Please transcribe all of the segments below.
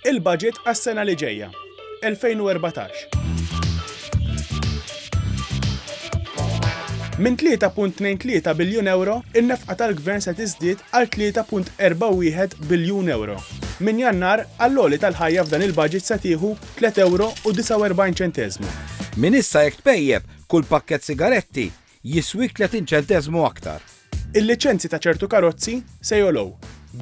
Il-Budget għas-sena li ġejja, 2014. Minn 3.23 biljun ewro, in-nefqa tal-Gvern se tiżdied għal 3.41 biljun ewro. Minn Jannar, għall-għoli tal-ħajja f'dan il-Budget se tieħu tliet ewro u 49 ċenteżmu. Minn issa jekk tpejjep kull pakkett sigaretti, jiswik 30 ċenteżmu aktar. Il-liċenzji ta' ċertu karozzi se jogħlow,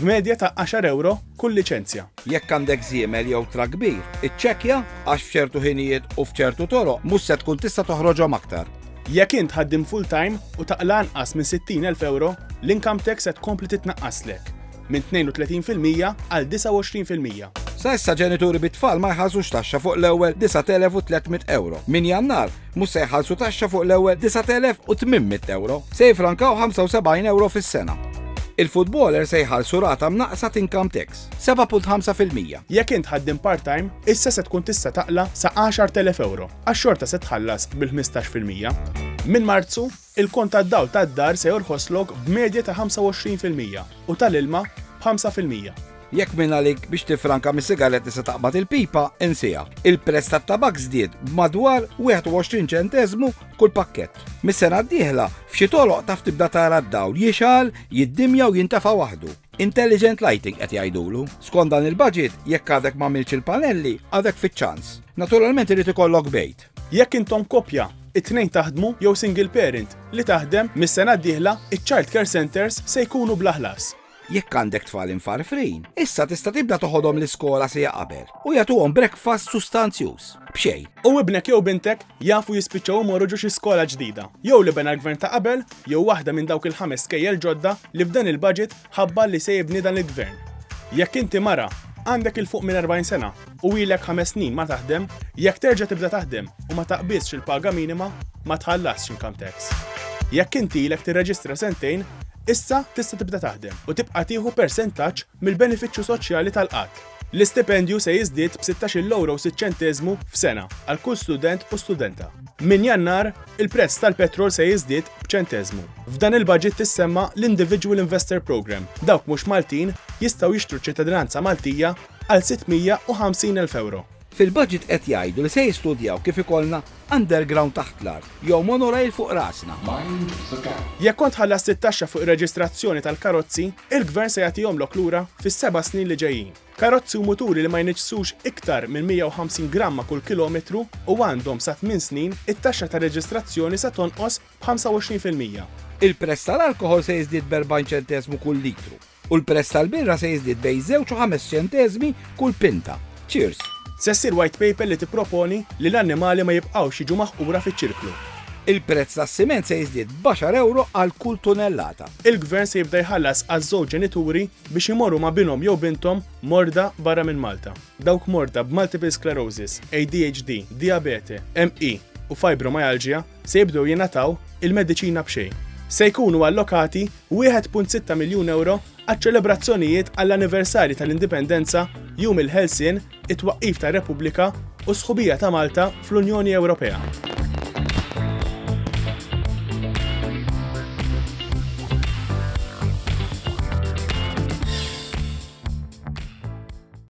b'medja ta' għaxar ewro kull liċenzja. Jekk għandek żiemel jew trakk kbir, iċċekkja għax f'ċertu ħinijiet u f'ċertu toroq mhux se tkun tista' toħroġhom aktar. Jekk int ħaddiem full-time u taqla' anqas minn 60,000 ewro, l-income tax se tkompli titnaqqaslek minn 32 fil-mija għal 29 fil-mija. Sa issa ġenituri bit-tfal ma jħallsux taxxa fuq l-ewwel 9,300 ewro. Minn Jannar, Mhux se jħallsu taxxa fuq l-ewwel 9,800 euro. Se jifrankaw 75 euro fis-sena. Il-futboler se jħallsu rata mnaqqsa t'income tax, 7.5%. Jekk int ħaddiem part-time, issa se tkun tista' taqla' sa 10,000 euro, għax xorta se tħallas bil-15%. Minn Marzu, Il-kont tad-dawl tad-dar se jorħoslok b'medja ta' 25 fil-mija u tal-ilma b'ħamsa fil-mija. Jekk minn għalik biex tiffranka mis-sigaretti se taqbad il-pipa, insiha. Il-prezz tat-tabakk żdied b'madwar 21 ċenteżmu kull pakkett. Mis-sena d-dieħla, f'xi toroq taf tibda tara d-dawl jixgħal, jiddimja u jintefa' waħdu. Intelligent lighting qed jgħidulu. Skont dan il-baġit, jekk għadek m'għamiltx il-panelli, għadek fiċ-ċans. Naturalment irid ikollok bejt. tal-korp. Jekk intom koppja, it-tnejn taħdmu jew single parent li taħdem, mis-sena d-dieħla iċ-child care centres se jkunu bla ħlas. Jekk għandek tfal imfarfrin, issa tista' tibda toħodhom l-iskola siegħa qabel u jagħtuhom breakfast sustanzjuż b'xejn. U ibnek jew bintek jafu jispiċċaw imorru ġo xi skola ġdida, jew li bena l-Gvern ta' qabel jew waħda minn dawk il-ħames skejjel ġodda li f'dan il-budget ħabbar li se jibni dan il-Gvern. Jekk inti mara, għandek 'il fuq minn 40 sena u ilek ħames snin ma taħdem, jekk terġa' tibda taħdem u ma taqbiżx il-paga minima, ma tħallasx income tax. Jekk inti ilek tirreġistra sentejn, issa tista' tibda taħdem u tibqa' tieħu persentaġġ mill-benefiċċju soċjali tal-qgħad. L-istipendju se jiżdied b'sittax-il ewro u sitt ċenteżmu f'sena għal kull student u studenta. Minn Jannar, il-prezz tal-petrol se jiżdied b'ċenteżmu. F'dan il-baġit tissemma l-Individual Investor Programme, dawk mhux Maltin jistgħu jixtru ċ-ċittadinanza Maltija għal sitt mija u ħamsin elf ewro. Fil-budget qed jgħidu li se jistudjaw kif ikollna underground taħt l-art jew monorail fuq rasna. Mind the gap. Jekk kont ħallast it-taxxa fuq ir-reġistrazzjoni tal-karozzi, il-Gvern se jagħtihomlok lura fis-seba' snin li ġejjin. Karozzi u muturi li ma jniġġsux iktar minn 150 gramma kull kilometru u għandhom sa tmien snin, it-taxxa tar-reġistrazzjoni se tonqos b'25 fil-mija. Il-prezz tal-alkoħol se jiżdied b'40 ċenteżmu kull litru u l-prezz tal-birra se jiżdied bejn żewġ u ħames ċenteżmi kull pinta. Cheers! Se ssir White Paper li tipproponi li l-annimali ma jibqgħux jiġu maħqura fiċ-ċirklu. Il-prezz tas-siment se jiżdied b'għaxar ewro għal kull tunellata. Il-Gvern se jibda jħallas għaż-żewġ ġenituri biex imorru ma' binhom jew binthom morda barra minn Malta. Dawk morda b'multiple sclerosis, ADHD, dijabete, ME u fibromyalgia se jibdew jingħataw il-mediċina b'xejn. Se jkunu allokati 1.6 miljun ewro għaċ-ċelebrazzjonijiet għall-anniversarji tal-Indipendenza, Jum il-Ħelsien, it-twaqqif tar-Repubblika u s-sħubija ta' Malta fl-Unjoni Ewropea.